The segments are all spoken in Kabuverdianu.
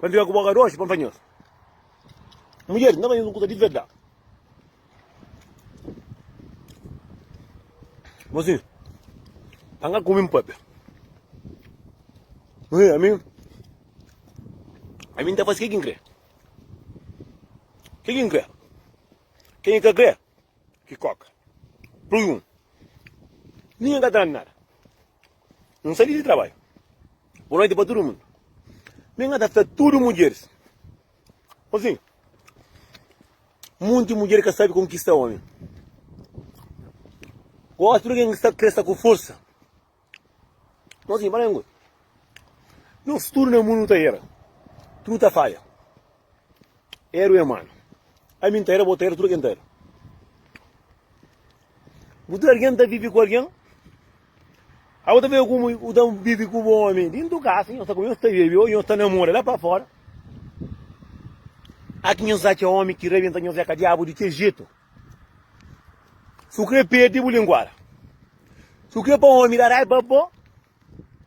Ban fika ku bo agora oji, ban panhel. Mulher, na panhel un kusa di verdad. Mozinho, ban ka kume-m papia. Mozinho, ami, ami nta fasi ke ki nkre. Ke ki nkre. Ke ki ka kre, ki koka. Plui un. Ninge ka ta nada. N sali di trabadju. Bo noiti pa tudu mundu. Mi ngata fla tudu mudjeris. Osi, munti mudjer ka sabi konkista omi. Gosi tudu ken ki sta kre sta ku forsa. Osi, bala un kuza. Nos tudu na mundu ta era. Tudu ta falha. Eru e manu, ami N ta era, bo ta era, tudu algen ta era. Bu tudu algen ta vivi ku algen. Abu ta vivi ku mu, u ta vivi ku bo omi dintu kasa, nhos ta kumesa, ta vivi, ou nhos ta namora la pa fora. Aki nhos atxa omi ki rebenta nhos é ka diabu di ke jetu. Su kre pedi bu linguara. Su kre pa omi da raiba bo.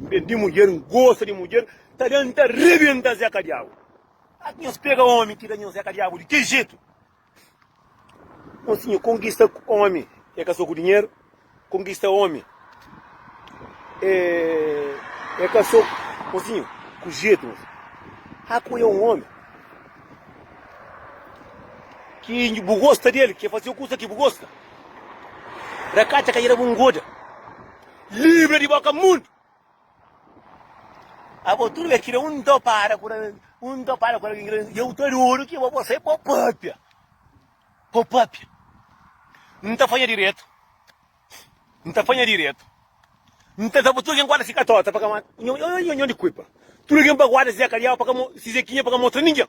N ben di mudjer, N gosta di mudjer, ta da N ta rebenta Zé Kadiabu. Ati nhos pega omi ki da nhos Zé Kadiabu di kel jetu? Mon sinha, konkista omi e ka so ku dinheru, konkista omi e ka so mon sinha, ku jetu, mon sinha. Aku e un omi ki bu gosta di el, ki e fazeba kusa ki bu gosta. Rakatxa ka ireba un goda. Livra di boka mundu. Abo tudu é kira un ta para ku un ta para ku alguém grande e eu ta duro que vou você pô papia. Pô papia. Não tá fanha direito. Não tá fanha direito. Não tá sabe tudo quem guarda fica torta para cá. Não não não não de culpa. Tudo quem para guarda se acalhar para cá se zequinha para cá mostra ninguém.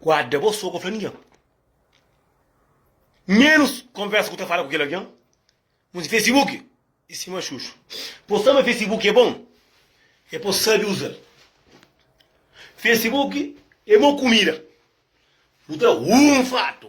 Guarda bo sô ka fla ningen. Menus konversa ku ta fala ku kel algen. Mos Facebook e sima xuxu. Bo sa ma Facebook e bon e pos sabi uzal. Facebook e mo kumida. Bu ta hunfadu.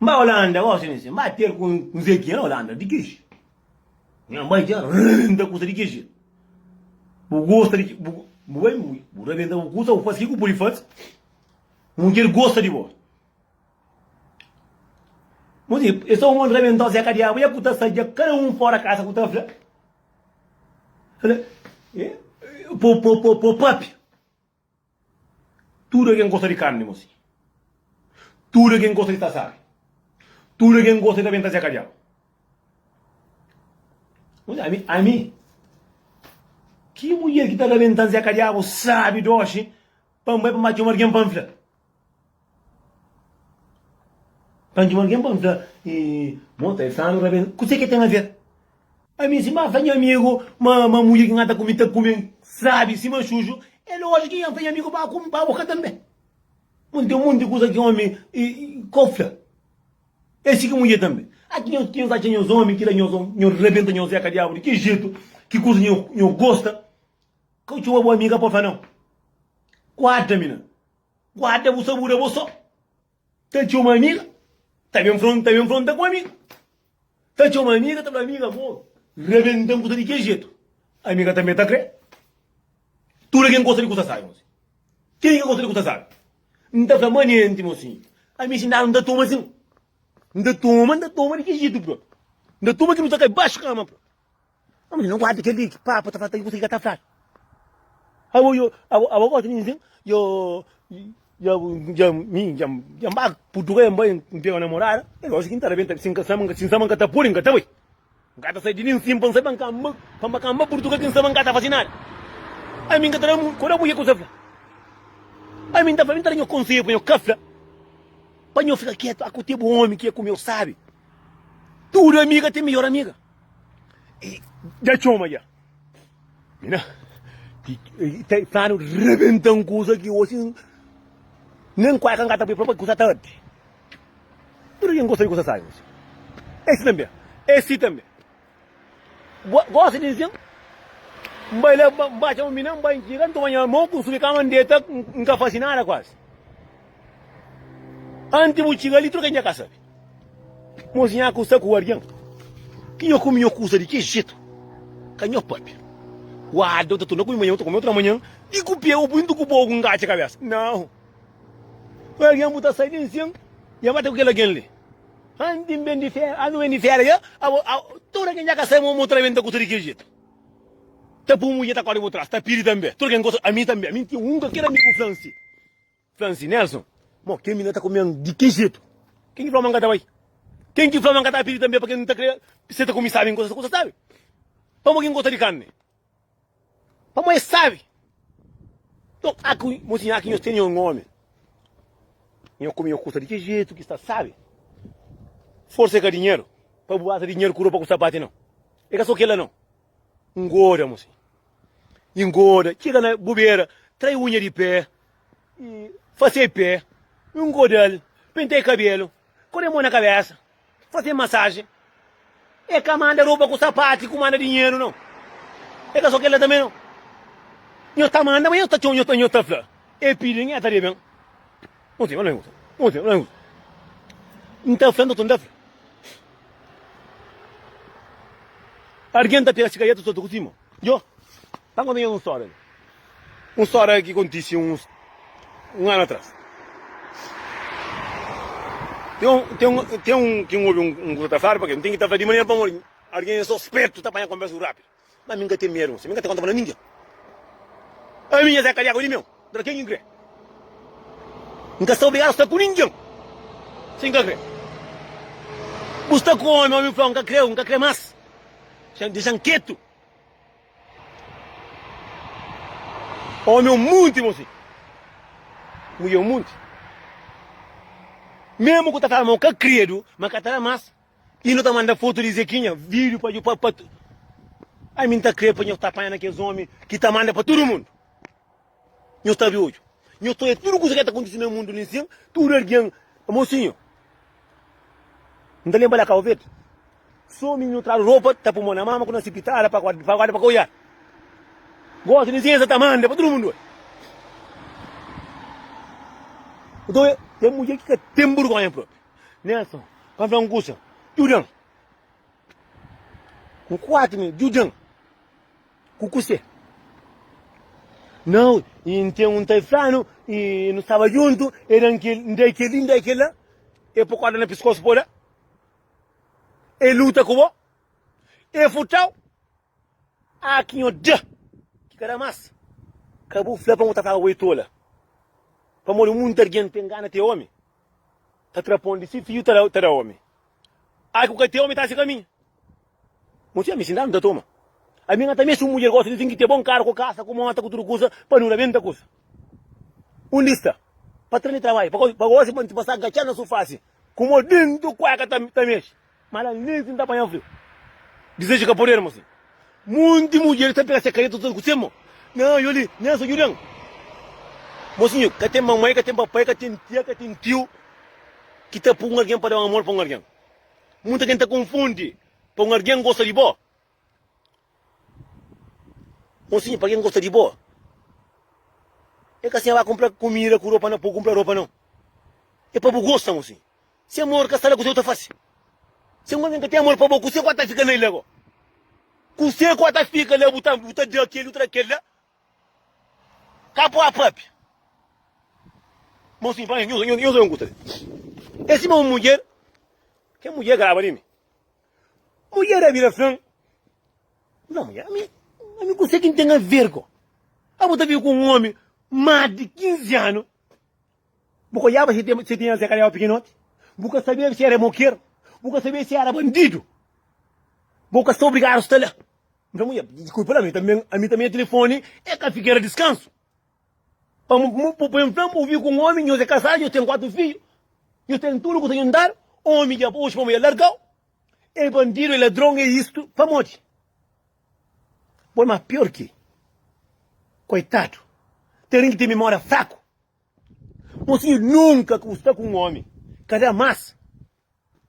N bai Holanda gosi mi si, N bai ter ku un zequinha na Holanda di ki ji N bai dja N ta kusa di ki ji Bu gosta di ki Bu bai ui Bu rabenta bu kusa bu fasi ki ku pudi fasi Mudjer gosta di bo Bo si e sta un mon rabentozu ya ka diabu ya ku ta sa dja kada un fora kasa ku ta fla Fla eh po po po po papi. Tudu algen gosta di karni mossi. Tudu algen gosta di tasari. Tudu algen gosta di ta ben ta zeka diabu. Mossi, ami, ami, ki mudjer ki ta ta ben ta zeka diabu sabi doxi pa N bai pa mati un algen pa N fla. Anti un algen pergunta, E mo ta é sanu ra ben? Kuzê ki el ten aver? Ami di si, Má, fla nha amigu ma ma mudjer ki N ata ku mi ta kume-m sábi sima xuxu. É lójiku ki N fla nha amigu pa kume pa bo ka tanbê. Mon, ten un monti di kuza ki ómi ka fla. É si ki mudjer tanbê. A ki nhos ki nhos atxa nhos ómi ki da nhos nhos rabenta nhos zeka diabu? Di ki jetu? Ki kuza nhos gosta? Ka txoma bo ami, ka pode fla nau. Kuadra mi na. Guarda bu sabu da bo so Ta txoma amiga Ta ben fron ta ben fronta ku amiga Ta txoma amiga ta fla amiga amor Rabentan kusa di kel jetu Amiga tanbe ta kre Tuda ken gosta di kusa sabi mosi Ken ki ka gosta di kusa sabi N ta fla manenti mosi Ami si nanu n ta toma asin N ta toma n ta toma di ki jetu prontu N ta toma ki nu ta kai baxu kama prontu. Abo li no guarda kel li ki papa ta fla ta konsigi ka ta fla. Abo yo abo gosta mi sim yo yo yo mi yo yo ba putugal ba n pega namorada el gosta ki n ta rebenta si n ka sama n ka si n sama n ka ta puri n ka ta bai n ka ta sai di li n sim pa n sai pa n ka ba pa n ba ka ba putugal ki n sama n ka ta fasi nada ami n ka ta da mu kuda mui ku sa fla ami n ta fla mi ta da nho konselho pa nho ka fla pa nho fika ketu aku te bu omi ki é ku mi eu sabi tudu amiga ten mihor amiga. Dja txoma dja. Mina, ta planu rebenta un kuza ki osi nen kueka n ka ta pui pa kuza ta ardi. Tudu kin gosta di kuza sabi osi. Esi tambi, esi tambi. Gosta di nsin, n bai la, n ba txoma mina, n bai, n txiga, n toma nha mo, n subi kama, n deta, n ka fasi nada kuasi. Anti bu txiga li tudu kel nha ka sabe Mos nha ku sta ku argen Ki nha kume nha kusa di ki jetu Ka nha papia Uada u ta torna kume manha u ta kume otra manha Di ku pia u bintu ku bo ku ngatxa kabesa Nau Argen bu ta sai den sen nha mata ku kel argen li Anti N ben di fera Anti bu ben di fera ya Abo a tudu kel nha ka sabe Mos tra ben ta kusa di ki jetu Ta pui mudjer ta kori bu tras Ta pidi tanbe tudu kel nha gosta Ami tanbe ami N tinha un ka kel amigu fransi. Fla nsi Nelson, mo ken mi na ta kumen di ki jetu? Ken ki fla ma nka ta bai? Ken ki fla ma nka ta pidi tambe pa ken nta kre seta ku mi sabe nkosa kusa sabe? Pamo ki nkosa di karni? Pamo e sabe. Nton aki mo siña aki nho tene un omi nho kume nho kusa di ki jetu ki sta sabe? Forsa e ka dinheru pa bu basa dinheru ku ropa ku sapati no. E ka so kela no. Ngoda mosi. I ngoda. Txiga na bu bera, trai uña di pé i fase-i pé. I ngoda-l. Pentai kabelu. Kore mo na kabesa. Fase-i masaji. E ka manda ropa ku sapati ku manda dinheru no. E ka so kel-la tanbe no. Nhos ta manda, ma nhos ta txoma, nhos ta fla. E pidi, N e ta da ben. Unte, unte, unte, unte, unte. N ta fla, n ta toma, n ta fla. Argen ta pega sigareta, ta kutima. Yo, ta konta nhos un stória li. Un stória ki kontise uns un anu atras. Ten un, ten un, ten un ki N obi un kuza ta fladu, pabia N ten ki ta fla di manera pamodi argen é sospetu ta panha konversa ku rápidu. Má mi n ka ten medu, mi n ka ta konta pa ningen. Ami nha Zé Kariéka, odi meu, dra ken ki n krê. N ka sta obrigadu sta ku ningen si n ka krê. Bu sta ku ómi, ómi fla-u, N ka krê-u, N ka krê más, dexa-m ketu. Ómi é un munti, mon fidju. Mudjer é un munti. Mésmu ku ta fla ma bu ka krê-du, ma ka ta da más. I nu ta manda fotu di Zekinha, vídiu pa dju pa pa tudu. Ai mi N ta krê pa nhos ta panha na kes ómi ki ta manda pa tudu mundu. Nhos ta abi odju. Nhos ta oja tudu kuza ki ta kontise na mundu li nsin. Tudu algen. Mosinhu, N ta lenba la Kau Verdi. Sô mi nu tradu ropa, ta pui mô na mama ku na sipitala pa pa guarda pa ka oja. Gosi di Zienza ta manda pa tudu mundu oi. Nton, e mudjer ki ka ten burgonha propi. Nelson, pa N fla-m un kusa, djuda-m. Ku kuatu mi, djuda-m ku kuse. Nau, i N ten un ta i fla-nu, i nu staba djuntu, e da-m kel, N da-i kel-li, N da-i kel-la, e po korda na piskosu pa bo da, e luta ku bo, e furta-u, Ah ki nho da ki ka da mas ka bu fla pa mu ta paga bo e tola pamodi muita argen ta engana te omi ta tra pon di si fiju ta da ta da omi ai ku ka te omi ta si kaminhu mu txia mi si nda nu ta toma ami nga ta mesi un mudjer gosta di tin ki te bon karu ku kasa ku mota ku tudu kusa pa nu rabenta kusa un lista pa tra di trabalhu pa gosi pa nti pasa gatxadu na su fasi ku mo dentu kueka ta ta mexe. Ma la nenti n ta panha friu. Dizeju ka poderu mostra. Monti mudjer ki ta pega se kareta tudu ku se mô. Nha aju li, nha sa djudan. Mosinhu, ka ten mamai, ka ten papai, ka ten tia, ka ten tiu ki ta pui un algen pa da un amor pa un algen. Monti algen ta konfundi pa un algen gosta di bo Ô siña, pa ken gosta di bo, é ka siña ba kunpra kumida ku ropa na po kunpra ropa nau. É pa bu gosta, mo siña. Si amor ka sta la, kuzê bu ta fasi? Si un algen ka ten amor pa bo, kuzê ku ata fika na el la bo? Kuzê ku ata fika la, bu ta bu ta da kel, bu ta da kel la? Ka pua pâpia. Mo siña, pa mi nhos nhos nhos oi un kusa li. É sima un mudjer, kel mudjer graba li mi. Mulher a bira flan, Nha mulher, ami, ami kuse ki n'ten aver ko? Abo ta vive ku un omi mas di 15 anu, bu ka olhaba si tem, si tem aze kaliaba pikinoti, bu ka sabia si era moker, bu ka sabia si era bandidu, bo ka sta obrigadu sta la. Nha mulher, diskulpa la, ami tamben, ami tamben telefoni e ka fikera diskansu. Pa N ta vive ku un ómi, nhos é kazadu, nhos ten kuatu fidju, nhos ten tudu kuza djuntadu. Ómi dja oxi pamodi el larga-u. El bandidu, el ladron, el istu. Pamodi? Bo é más piór ki el. Koitadu! Terin ki ten mimória fraku. Mosinhu, nunka ki bu sta ku un ómi, ka da más.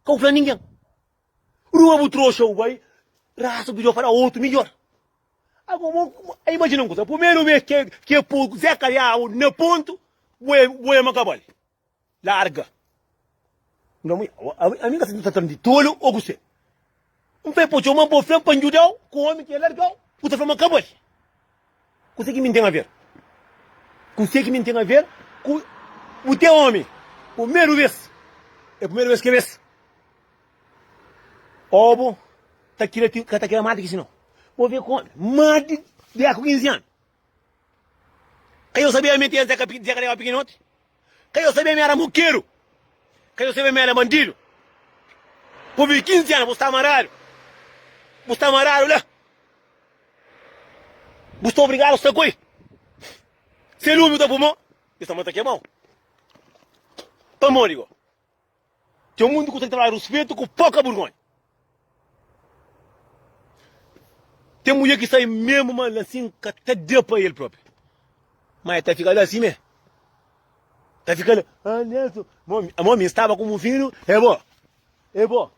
Ka bu fla ningen. Rua bu troxa bu bai rasa bu dja fala otu midjor. Ago bo imajina un kuza pumeru bes ke ke po zé kaliau na pontu bo e bo e ma kabal larga ami ami ka sai ta tran di tolu o kusé n fla e po txeu ma bo fla pa n djudau ku omi ke largau bu ta fla ma kabal. Kuse ki mi N ten aver? Kuse ki mi N ten aver ku bu te omi? Pumeru bes, e pumeru bes ke bes obo ta kira ti ka ta kira mati ki si no. Bo ve komi mati de ku kinzi anu. Ka yo sabia meti el te ka te ka leba pikinoti. Ka yo sabia ma el era mukeru. Ka yo sabia ma el é bandidu. Ku bi 15 anu bu sta maradu. Bu sta maradu la. Bu sta obrigadu sta ku el. Se lumi ta puma, yo sta mata kemau. Pamodi go? Txeu mundu ku ta traba ruspetu ku poka burgonha. Ten mulher ki sai mesmo ma la sin ka ta da pa el propi. Mas el ta fika la assim me. Ta fika la, ah Nelson, mo mi staba ku mu filho, é bom, é bom.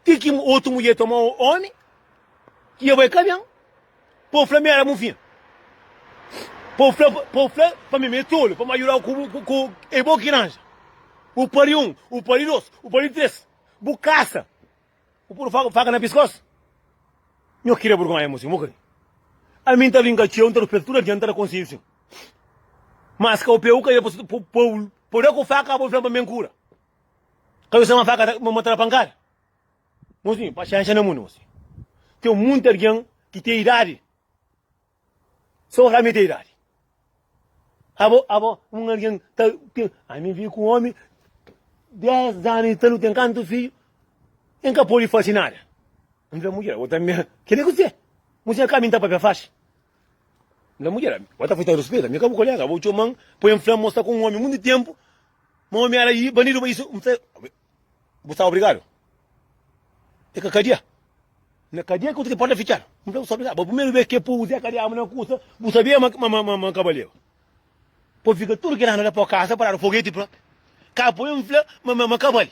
Ti ki otu mudjer ta toma omi ki dja bai kabian. Pobu fla mi éra bu fin. Pobu fla pa mi ma e tolu, pamodi djudau ku e bo ki ranja. Bu pari un, bu pari dos, bu pari tres, bu kasa, bu puru faka na piskos. Nho kre burgonha mu sin, bu kre. Ami N ta bin ka txeu, N ta rupel tudu adianta na konsedju sin. Mas ka bu pega ku kaiba pa pobu da ku faka, bo fla-m pa mi ben kura. Ka bai sama faka ta mata na pankada. Nos tinha paciência na mundo. Tem muito alguém que tem idade. Só para mim tem idade. Abo, abo, um alguém tá, tem, a mim vi com um homem, 10 anos, tá, não tem canto filho, em que pode fazer nada. Não tem mulher, outra minha, que nem você. Mulher cá, minta papel faz. Não mulher, outra foi tão respeito, minha cabo colega, vou te man, põe em flama, mostra com um homem muito tempo, Ma omi éra i banidu pa isu. Bu sta obrigadu? É ka kadia? Na kadia ki bu ta ten porta fitxadu. N fla, bu sta obrigadu. Bo primeru bes ke povu Zé Kadiama na kusa, bu sabia ma N ka ba leba. Po fika tudu kel anu la po kasa paradu, fogeti propi. Ka apoia N fla ma N ka bali.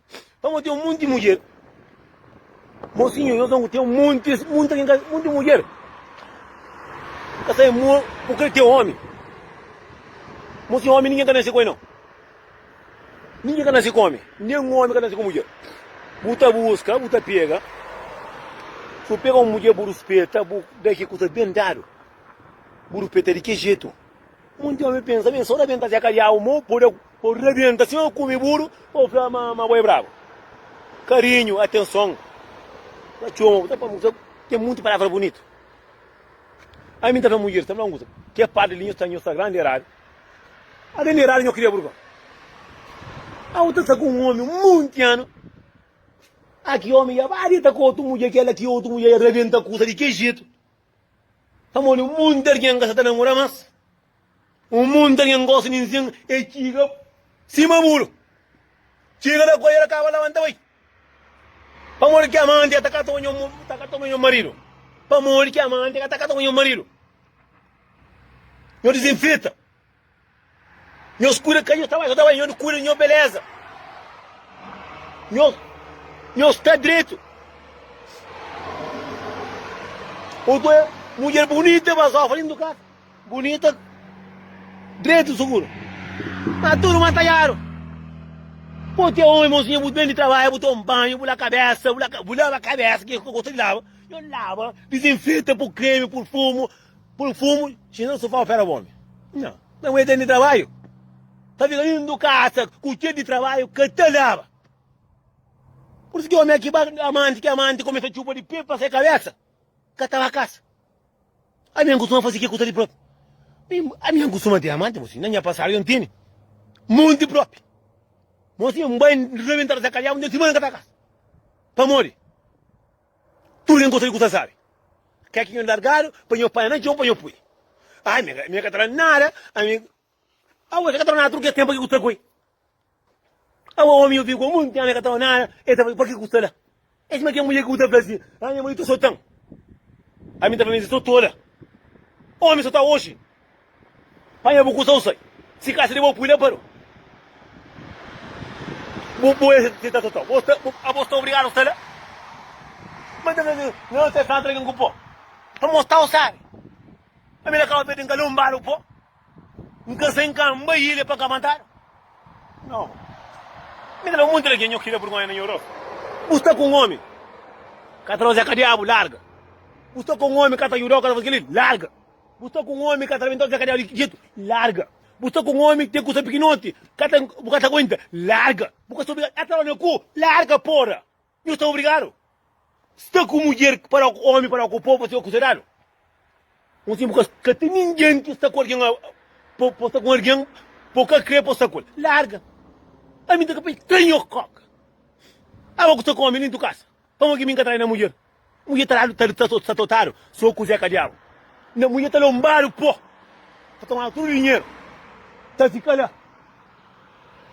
Pamodi ten un monti mudjer. Mosinhu, nhos nau ten montis, monti algen, monti mudjer. Ka sai mo, bu krê ten omi. Mosinhu, omi ninguém ka nase koi nau. Ninguém ka nase komi, nem omi ka nase ku mudjer. Bu ta buska, bu ta pega. Si bu pega un mudjer, bu ruspeta, bu da ki kusa ben dadu. Bu ruspeta di ki jetu. Monti omi pensa, ben, so da ben ta zia kadiau mo, po da. Bo rabienta sima bo kume buru pa bo fla ma bo é brabu. Karinhu, atenson, ta txoma bo. Ta fla-m un kuza, ten monti palavra bunitu. Ami n ta fla mudjer, ta fla-m un kuza, ke padri li nho sta, nho sta grandi eradu. A grandi eradu nho kria burba. Abo ta sta ku un omi monti anu, a ki omi ya ba dita ku otu mudjer, kela ki otu mudjer ya rabienta kusa di ke jetu. Pamodi monti algen ka sa ta namora mas. Un munta nha n gosi nin sin e txiga sima muru txiga da ku el akaba labanta bai pamodi ki amanti ka ta ka toma nho ta ka toma nho maridu pamodi ki amanti ka ta ka toma nho maridu nho dizinfita nho skuda ka nho ta bai ka ta bai nho di kuda nho beleza nho nho sta dretu o to e mudjer bunita bazofa nin du kasa Bunita dretu suguru ma tudu mantanhadu Bo ti é omi mozinha bu ben di trabalha bu ta un banhu bu la kabesa bu la bu laba kabesa ki gosta di laba yo laba dizinfeta pur kremi pur fumu pur fumu si no sufau fera bomi nha na bu ben di trabalhu ta fika indu kasa ku txer di trabalhu ka ta laba pur isu ki omi aki ba amanti ki amanti kumesa txupa di pé pa se kabesa. Ka ta ba kasa. Ami N kustuma fase ke ku ta di propi. Ami N kustuma ten amanti bo si. Na nha pasadu yo N tene monti propi. Mo si N bai N rebenta rasa kaliabu N ten simana N ka ta kasa. Pamodi tudu ken gosta di kusa sabi. Ke ki nho largadu pa nho panha na txon pa nho pui. Ami N ka ta fala nada. Ami. Awa eka tra nada tudu kel tenpu paki ku sta koi awa omi yo fiku monti anu eka tra nada e ta fla paki ku sta la e sima kel mudjer ku ta fla si a nha maridu ta sotan ami ta fla mesi so tola omi so ta oxi panha bu kusa usai si ka sidi bo pui la paro bo bo esa si ta sotau bo sta abo sta obrigadu sta la ma ta fla si no se fla atra algin ku po pamo sta osabi ami na kaba pedi nka lombadu po N ka sai, N ka anba ilha pa ka matadu. Nau. Mi ta da monti lagen nho ki da burgonha na nho rostu. Bu sta ku un omi ka ta rozea ka diabu, larga. Bu sta ku un omi ka ta judau ka ta faze kel-li, larga. Bu sta ku un omi ka ta rabentau ta fia ka diabu di jetu, larga. Bu sta ku un omi ten kusa pikinoti ka ta bu ka ta aguenta, larga. Bu ka sta obrigadu ata ora na ku, larga pora. Nu sta obrigadu sta ku mudjer ki para ku omi, para ku povu, sta kusedadu. Un sin bu ka ka ten ningen ki sta ku algen pa pa sta ku algen pa u ka kre pa sta ku el. Larga. Ami ta ka pai tra nho koka. Aba ku sta ku omi nin tu kasa. Pamo ki mi nka trai na mudjer. Mudjer ta dadu ta ta ta totadu so ku zeka diabu. Na mudjer ta lombadu po ta tomadu tudu dinheru ta fika la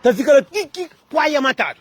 ta fika la ti ki puaia matadu.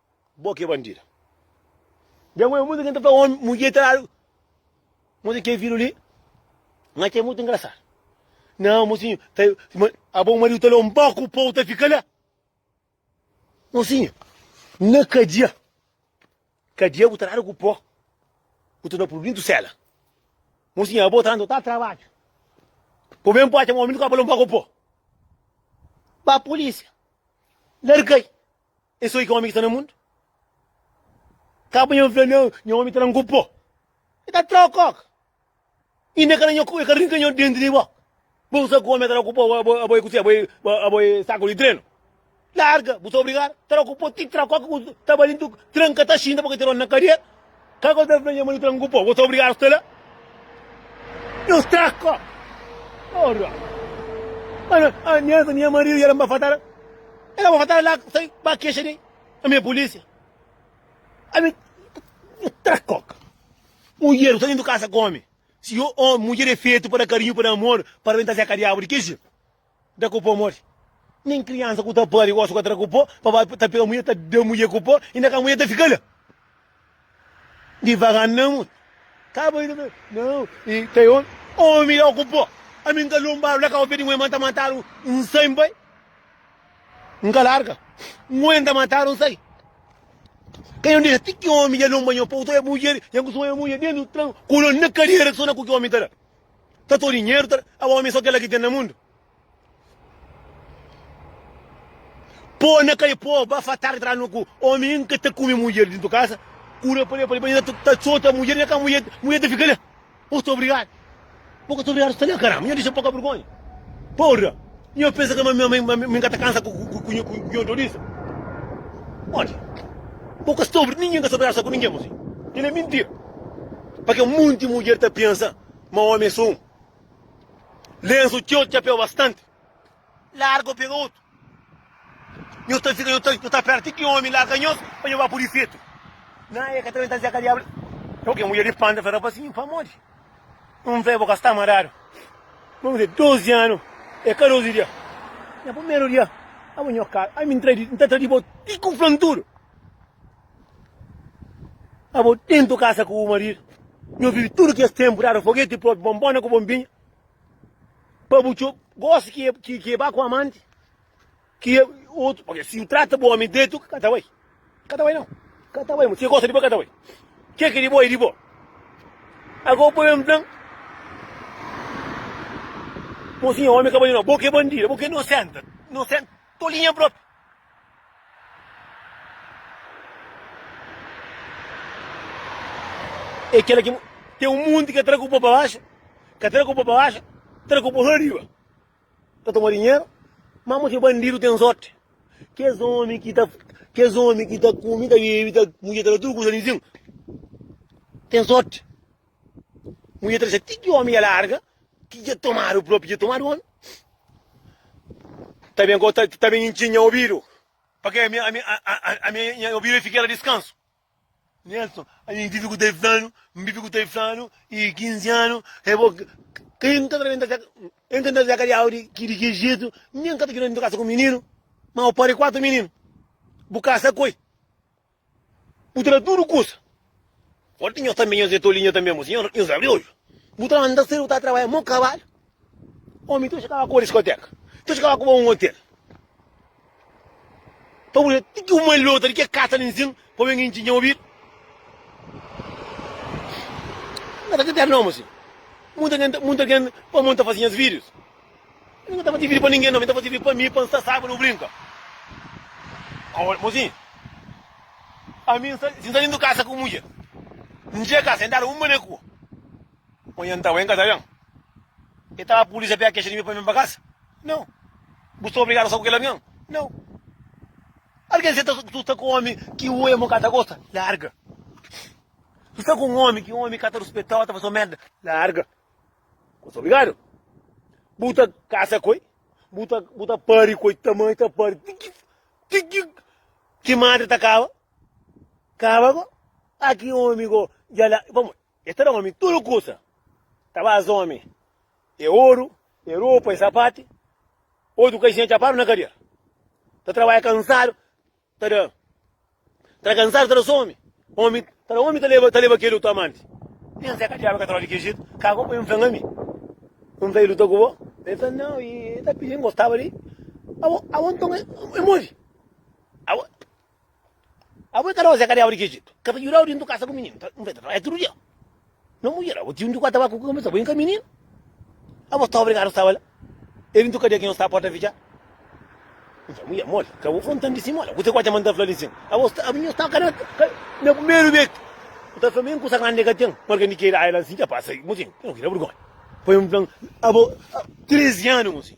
Bo ki é bandida. Dja n'goi mutu ken ta fla omi mudjer ta dadu moti ken fidju li ma ke mutu ingrasadu. Nao mosinho ta abo mariu ta leo mboku pou ta fika la. Mosinho na kadia kadia bu ta dadu ku po bu ta na pul dintu sela. Mosinho abo ta ta trabadju po ben pocha ma omi nu ka palo mboku po. Ba polisia largai. É só i ki omi ki sta na mundu? Ka pa nha fla nha nha omi ta na ngu po. E ta tra ok ok. Inda e ka na nha e ka rinka nha denti di bok. Bo ku sa ku omi ta na ku po abo abo e ku si abo e abo e saku di trenu. Larga, bu sta obrigadu. Tra ku po ti tra ku ok ku ta ba li ntu tranka ta xinta bo ka tira un na kadia. Ka ka ta fla nha marido trangu po, bo ta obrigado sta la. Yo sta ka. Ora. Ana, anhesa nha marido ya ba fatara. Ela ba fatara la, sai ba queixa de a minha polícia. A mim, yo tra coca. Mulher, você dentro casa come. Se eu, oh, mulher é feito para carinho, para amor, para ventar a cariabo de queixa. Da ku po modi? Nen kriansa ku ta pâde gosi ku atra ku po, pa ba ta pega mudje ta da mudje ku po, inda ka mudje ta fika la. Divaga n na mud. Ka bai na Nau, i ta e omi. Omi da ku po. Ami n ka lonbadu la kau pé di nguen ma n ta matadu n sai n bai. N ka larga. Nguen ta matadu n sai. Ka yo n dexa ti ki omi dja lonba nho po. Ku so e mudje, nha ku so e mudje dentu tran, kolon na kadera, ku so na ku ki omi ta da. ta to dinheru ta aba omi so kela ki ten na mundu po na kai po ba fa tardi tra no ku omi in ka ta kumi mudjer dintu kasa kura pa le pa le pa le ta sota mudjer nha ka mudjer mudjer ta fika le o sta obrigadu bo ka ta obrigadu sta le karamba nha disa poka burgonha porra Nho pensa que ma mi ma mi mi ka ta cansa com com com com nho dor isso? Olha, bo ka sobre ninguém ka sobre asa com ninguém mozinho. Ele é mentira. Porque um monte de mulher tá pensa ma homem é só um. Lenço teu te apeu bastante. Larga ou pega outro. Nho tá fica, nho tá, nho tá perto que homem larga nho para nho vai por efeito. Na é que também tá dizendo que diabo. Ok, mulher de panda, fala assim, para morrer. Un fé bo ka sta maradu. Bo mizê, 12 anu é ka 12 dia. Nha primeru dia, abo nho ka, ai mi ntra di, nta tra di bo ti ku flantudu. Abo tentu kasa ku bu maridu, nho vivi tudu kes tenpu dadu fogeti propi, bonbona ku bonbinha, pa bu txob, gosi ki ki ki e ba ku amanti. Ki é otu, pâpia, si nu trata bo omi dretu, ka ta bai. Ka ta bai nau. Ka ta bai, ma si e gosta di bo, ka ta bai. Ke ki é di bo, é di bo. Agora bo ben fla-m, Mosinha, omi ka bai di nau. Bo ki é bandida, bo ki é inosenta, inosenta, tolinha propi. É kela ki, ten un munti ka tra ku bo pa baxa, ka tra ku bo pa baxa, tra ku bo riba. ta toma dinheiro, mas mostra bandido tem sorte. Que es homem que tá, que es homem que tá come, tá bebe, tá mulher, tá tudo coisa nenhum. Tem sorte. Mulher tá tipo que homem é larga, que já tomaram o próprio, já tomaram homem. Tá bem, tá, tá bem entinha ouvido. Porque a minha, a minha, a, a, a minha ouvido fica ela descanso. Nelson, a mi vive ku ta e flanu, mi vive ku ta e flanu e 15 anu e bo kai mi ka ta benta e mi ka ta ka diabu di ki di ki jetu, mi mi ka ta juda kasa ku mininu, ma bu pari 4 mininu, bu kasa koi, bu tra tudu kusa, fora di nhos tambi nhos e toliu nhos tambi, nhos abri odju, bu tra manda sedu bu ta trabalha mo kabalu. Omi ta txikaba kuba diskoteka, ta txikaba kuba un otel. Pa bu da ti ki un malhota di ke kasa nin sin pa ben intxi nha obidu. Nunka ta txateadu nomi si. Munta ken ta munta ken pa mon ta fasi nhas vidius. Mi ka ta fasi vidiu pa ningen no, mi ta fasi vidiu pa mi pa nsa saiba no brinka. Aol mo si. Ami nsa si nsa dintu kasa ku mudjer, ndje kasa, ndada un bane kuba. Ô nha ntau, N ka ta ben. E ta ba pulísia pé kexa di mi pa ben pa kasa? Nau. Bu sta obrigadu a sta ku kel algen? Nau. Algen seta ku tu sta ku omi ki un irmon ka ta gosta? Larga. Tu sta ku un omi ki un omi ka ta ruspetau, ta faseu merda? Larga. Bu sta obrigadu. Bu ta kasa ku el, bu ta bu ta pari ku el, ta mandi ta pari ti ki ti ki ki madre ta kaba kaba go. A ki omi go dja la pamodi. E ta da omi tudu kusa. Ta ba as omi e oru, e ropa, e sapati. Otu okazion, e txapadu na kadia. Ta trabadja kansadu, ta da. Ta da kansadu, ta da so omi. Omi ta da omi, ta leba, ta leba kel otu amanti. Nen Zé ka diaba ka ta rodi ki jitu. Ka bo pa N flanga mi. N ta i luta ku bo. El fla, Nau, i ta pidi N gostaba di. Abo, abo nton e modi. Abo. Abo e ka dau zeka de audi ki ejitu, ka ta juda audi ndu kasa ku mininu, ta nfrenta trabadja tudu dia. No mudjer, abo tiu njuku atabaku ku kabesa bo inka mininu. Abo sta obrigadu staba la, e di ntu kadia ki no sta porta fitjadu. Nta mudjer moli, ka bo fla ntan di si mola, kuse ku atxa ma nta fla li nsin? Abo sta, abo nho staba ka na primeru bet, bu ta fla ma en kusa grandi ka ten, marka ndi keda ai la nsin, dja pasa, nho ki na burgonha, pa nho fla abo 13 anu nsin.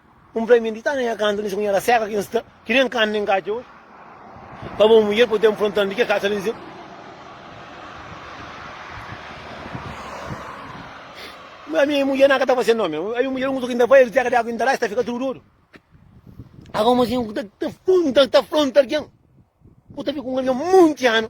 Un fla-m, N di ta na nha kantu, N skonheda seka ki N sta, Ki nen kantu nen katxa oji. Pa bo mudjer po ten frontal di ke katxa nen seka. Ma mi mudjer na ka ta fase nome, A mi mudjer un kutu ki N ta fai, Riteka di agu ki N ta dai, Sta fika tudu odu. Agu un mosinhu ta frontal ken, Ku ta fika un algen monti anu.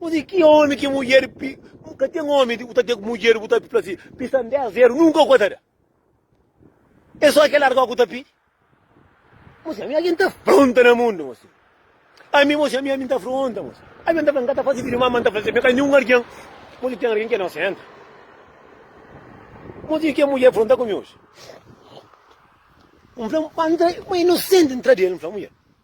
Ô di ki ome ki mudjer pi. Ka ten ome bu ta ten ku mudjer bu ta fla si, pisa-m 10 eru, nunka ku ka ta da. E so ke larga-u ku ta pidi. Mo si ami algen ta fronta na mundu, mo si. Ami, mo si ami, ami ta fronta, mo si. Algen ta fla n ka ta fasi fidju ma ami ta fla si, me ka ninhun algen. Mo si ten algen ki é nosenta. Mo si ke mudjer fronta ku mi oji. N fla, ma i nosenti, n tra di el, n fla mudjer.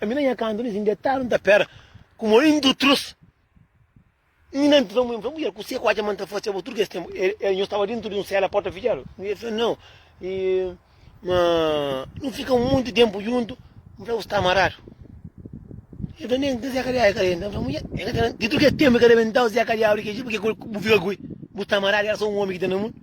Ami na nha kantu ni sin detadu N ta pera ku mo in dutrus Ni na npisa mu infla mudjer Kuse ku atxa ma N ta fase abo tudu kes tenpu E e nhos staba dentru di un sela porta fitxadu N e fla nau E ma nu fika monti tenpu djuntu N fla bu sta amaradu E fla nen Zeka di Aika denta N fla mudjer E ka ta na Di tudu kes tenpu e ka rebentau Zeka di Aurika e Jil purke ku bu fika ku e Bu sta amaradu Era so un omi ki ta na mundu.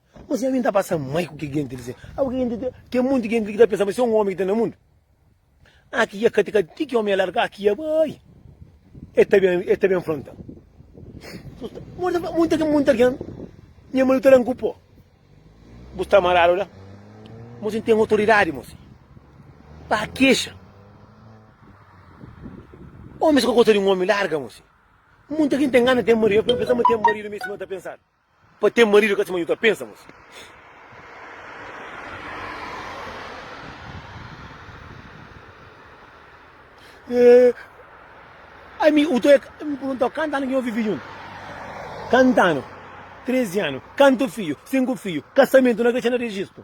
Osi ami nta pasa mai ku ki genti li sen. Abo ki genti ta. Ten monti genti li ki ta pensa ma se un omi ki ten na mundu. Ah ki ya kati kati ti ki omi ya larga ah ki ya bai. E ta ben e ta ben fronta. Monta ki monta algen nha maridu ta dan ku po. Bu sta maradu la. Mosi n ten autoridadi mosi. Pa kexa. Omis ka gosta di un omi larga mosi. Monta ki n ta ngana ten maridu. E pensa ma ten maridu mi si ma ta pensadu. Pa ten marido ka sima ju ta pensa mos. Eh, ami u toek mi perguntau kantu anu ki no vivi juntu. Kantu anu? 13 anu. Kantu fiju? 5 fiju. Kasamentu na kretxena rejistu.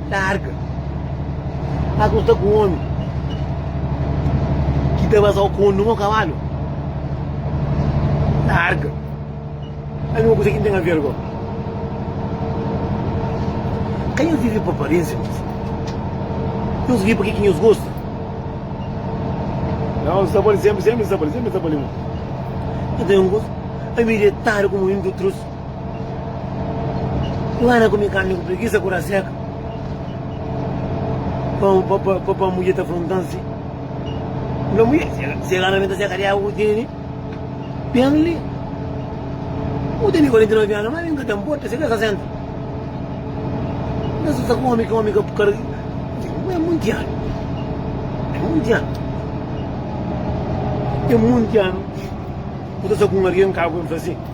Larga! Sta ku sta ku omi ki ta basau ku omi mo kabalu? Larga! Ami ku kusa ki N ten aver go? Ka nhos vive pa aparensia, kuzê? Nhos vive pa ke ki nhos gosta? Nau, N sta pa li, senpri, senpri N sta pa li, senpri N sta pa li, mon. Nhos ta ben gosi? Ami detada ku muintu trus. Nhos anda kume karni ku pregisa ku ra seka pa pa mudjer ta frontan si fla mudjer si e karni ben ta seka di agu ku tene ben li u tene 49 anu ma mi nka ta nporta si ka 60 nta susa ku omi ki omi ka kar e monti anu e monti anu e monti anu ku ta sa ku un algen ka agu ben fla si.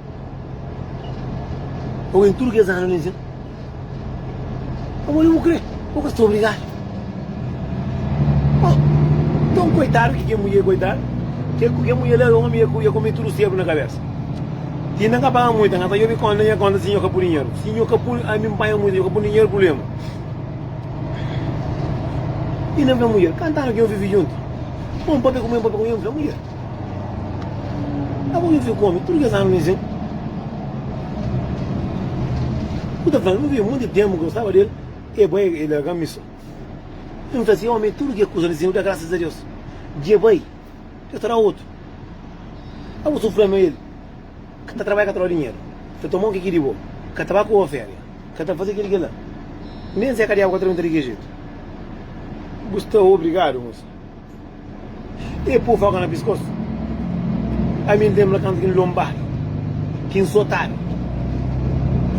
Ogen tudu kes anu li sen pa modi bu kre bu ka sta obrigadu oh ton koitadu ki kel mudjer koitadu kel kel mudjer li éra omi el kome tudu sebu na kabesa si nda ka paga multa nda ta djobe konta nha konta si nho ka pudi dinheru si nho ka pudi ami npanha multa nho ka pudi dinheru prublema i nda fla mudjer kanta anu ki nho vivi djuntu bo npape ku mô npape ku nha nfla mudjer. A bu vive ku omi tudu kes anu mi zen. Bu ta fla-m, nu vive monti ténpu ki gostaba di el, e bai el larga-m mi so. N fla si, Omi, tudu ke kuza li zen nu da grasas a Deus. Dje bai, Deus ta da otu. A bu sufri ama el. Ka ta trabadja, ka ta roba dinheru, ka ta toma o ke ki di bo, ka ta ba ku bo féria, ka ta faze kel-li, kel-la. Nen seka diabu ka ta da un tari di kel jetu. Bu sta obrigadu, mosa. E pô faca na piskósu Ami N tenbla kantu ki N lonbadu Ki N sotadu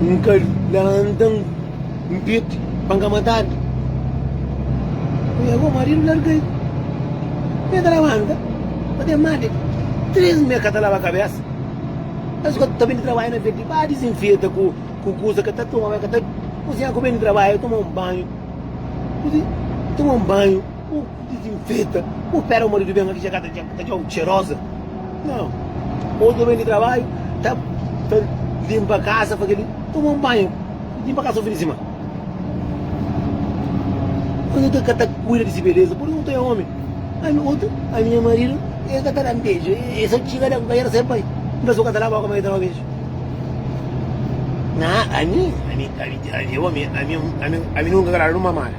N ka lanta N piti pa N ka matadu Nha gó maridu larga-i Mi ta labanta pa ten mati Três mês ka ta laba kabésa Es gó ta ben di trabadju na bês di ba Dizinfeta ku kusa ka ta toma Ka ta kuzinha ku ben di trabadju Toma un banhu Kuzi toma un banhu Bu dizinfeta, bu pera o maridu ben ma ki dja ka ta ta dja-u txeroza. Nau. Otu ben di trabadju ta ta linpa kasa, faze li, toma un banhu, linpa kasa un fin di simana. Otu ta ka ta kuida di si beleza pur otu é omi. A mi, otu, a minha maridu el ka ta da-m beju, el sa txiga da-m bai, el sa bai. N ta suka ta laba boka ma el ta da-u beju. Nau, ami, ami, ami, ami é omi, ami, ami, ami nunka ka dadu un mamada.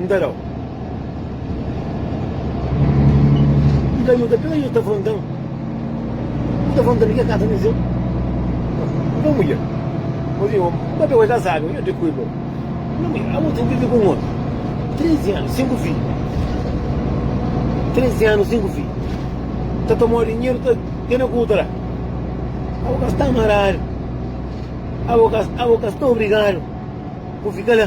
N ta da-u. N ta djuda-u. Kila ki ta fronta-m, N ta fronta-l di ke kasa N sen. N ta mudja. Omi, omi, ma be bo e ka sabe ma e di kui bo. Omi, abo ten vive ku un omi trezi anu, sinku fidju. Trezi anu, sinku fidju. N ta toma-u dinheru, ta tene ku utra. Abo ka sta maradu. Abo ka, abo ka sta obrigadu ku fika la.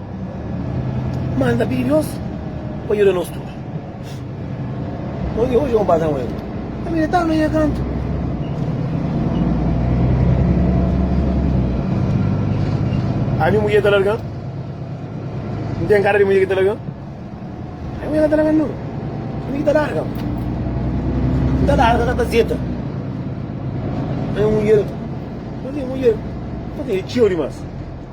Má N ta pidi Deus pa djuda nos tudu. Oji N pasa un erru. N ta medita na nha kantu. Ami mudjer ta larga-m. N ten kara di mudjer ki ta larga-m. Ami mudjer ka ta larga-m, nau. Ami ki ta larga. N ta larga ka ta zeta. Ami mudjer, mudjer, mudjer, mudjer, e txeu dimás.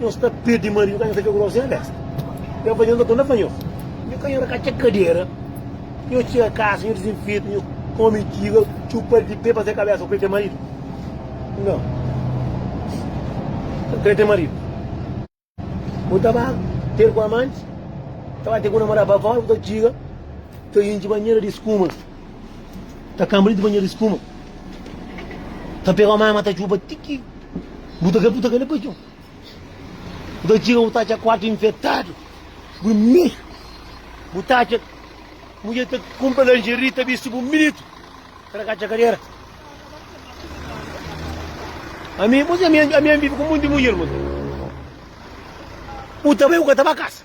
Nhos ta pede maridu ka nhos ta fla ku se besta. Nhos fla nhos ka konta pa nhos. Nhos ka yora ka txeka kadera. Nhos txeka kasa, nhos dizinfeta, nhos kome intiga, txupa di pe pa se kabesa. Kre ten maridu? Nau. Kre ten maridu. Bu ta ba ter ku amanti, ta ba ter ku namoda pa fora, bu ta txiga, ta intxi banhera di skuma, ta kanbra di banhera di skuma, ta pega mama ta txupa ti ki. Bu ta ka bu ta ka le pa djon bu ta txiga bu ta atxa kuartu infetadu bu mi bu ta atxa mudjer ta kunpra lingerie ta bisti bu minitu ta na ka atxa kadera ami bu si ami ami ami bibi ku monti mudjer mô bu ta bai bu ka ta ba kasa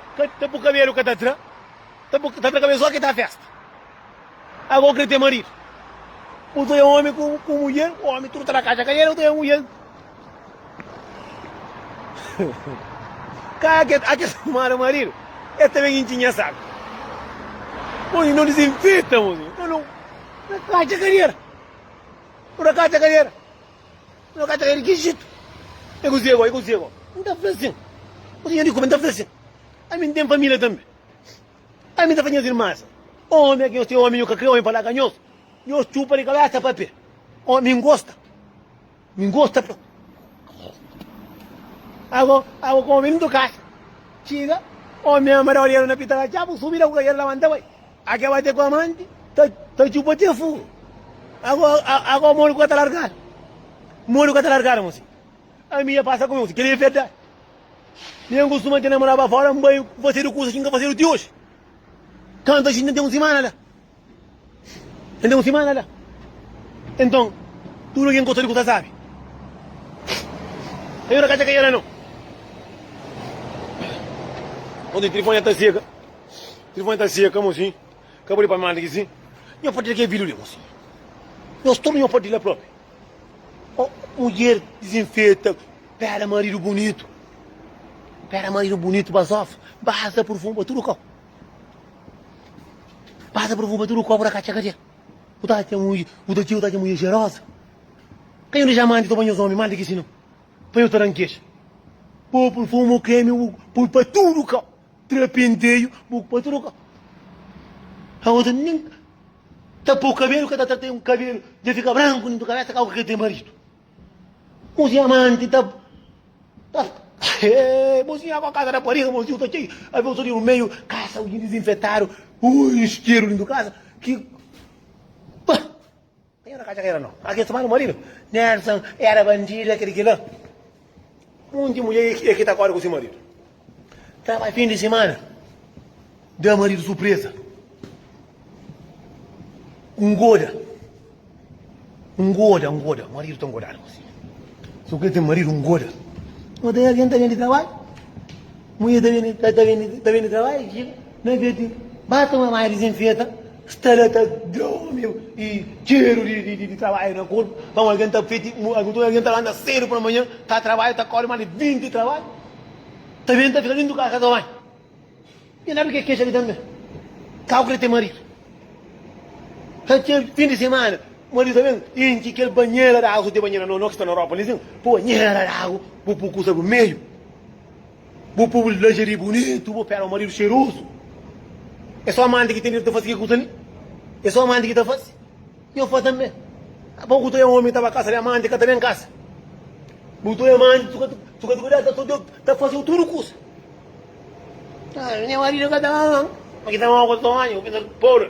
Ka ta bu kabelu ka ta tra ta bu ta tra kabelu so ki ta festa ago u kre ten marido bu ta ya omi ku ku mulher omi tudo ta na kaxa ka yera u ta ya mulher ka ake ake mara marido e ta ben inchi nha saco Oi, não desinfeta, moço. Não, não. Não é caixa cadeira. Por acaso é cadeira. No ka ta kai di ki jetu. E kuzê bo? E kuzê bo? N ta fla sin. Kuzê nha di kume? N ta fla sin. Ami N ten família tanbe. Ami N ta fla nhas irmas. Omi a ki nhos ten omi, nhu ka kre omi pa laga nhos. Nhos txupa di kabésa pa pé. Omi N gosta. Mi N gosta pa. Ago, ago ka omi N toka. Txiga, omi ama da orielu na pita la txabu, subi la ku kajadu la manta bai. A ke bate ku amanti ta txupa te furu. Agora modi ku ka ta largadu. Modi ku ka ta largadu mon si. Ami ya pasa ku mi mon si. Kel li e verdadi. Mi en kustuma tene moraba fora n bai fasedu kusas ki n ka fasedu ti oji. Kantu aji n ten un simana la. N ten un simana la. Enton tudu algen ku gosta di kusa sabi. N ka ta ka yera no. Onti trifon ya ta sega. Kil fantasia ka mosin, ka pode pa manda ki si. Nho partilha kel video li mosin. Nho stor nho partilha propi. Oh, mulher desinfeta, pera marido bonito. Pera marido bonito bazof, basta perfume para tudo kau. Basta perfume para tudo kau para cacha cadê? O tá tem mulher, o tá tinha, o tá tem mulher gerosa. Quem eu já manda, tô banho os homens, manda que se não. Põe o taranquejo. Pô, perfume, creme, pô, para tudo kau. Tra penteio bu pa troca. A outra nem tapou o cabelo, cada tratei um cabelo, já fica branco dentro da cabeça, calma que tem marido. Mozinha amante, tá. tá é, mozinha com a casa da parede, mozinho tá cheio, a ver o no meio, caça alguém desinfetado, ui, isqueiro dentro da casa, que. Pá. Nhos ka atxa ki éra no. Má kes txomadu maridu, Nelson éra bandidu, é kel-li, kel-la. Monti mulher é ki ta korda ku se maridu. Ta bai fin di simana, da maridu surpreza. Ngoda. Ngoda, ngoda. Maridu ta ngodadu gosi. Sô ki el ten maridu ngoda. Ô ta algen ta ben di trabadju. Mulher ta ben di trabadju, txiga na bês di bata un armáriu dizenfeta. Sta la ta dromi y txeru di trabadju na korpu. Nton algen ta feti, nton algen ta lanta sedu pa manhan, ta trabadja, ta kori más di 20 trabadju, ta ben ta fika dentu kasa, ka ta bai. Nha neta ke kexa li tanbe, ka ku kre ten maridu. Ka ke fin di semana, maridu ta ben intxi kel banhera di agu, si ten banhera, no, no ki sta na Europa li sin, ponhera di agu bu pukusa bu meiu. Bu pobu di linjeri bunitu, bu péra maridu xerozu. É só amanti ki ten direitu ta fase kel kuza li. É só amanti ki ta fase. Nho fla tanbe. Bo ku tude omi ta ba kasa li, amanti ka ta ben kasa. Bu tude amanti, su ka su ka ta kuidadu, ta tudu ta fase-u tudu kuza. Nha maridu ka ta ama-m. Ma ki ta ama-u ku otu omi, bu pensa pobri.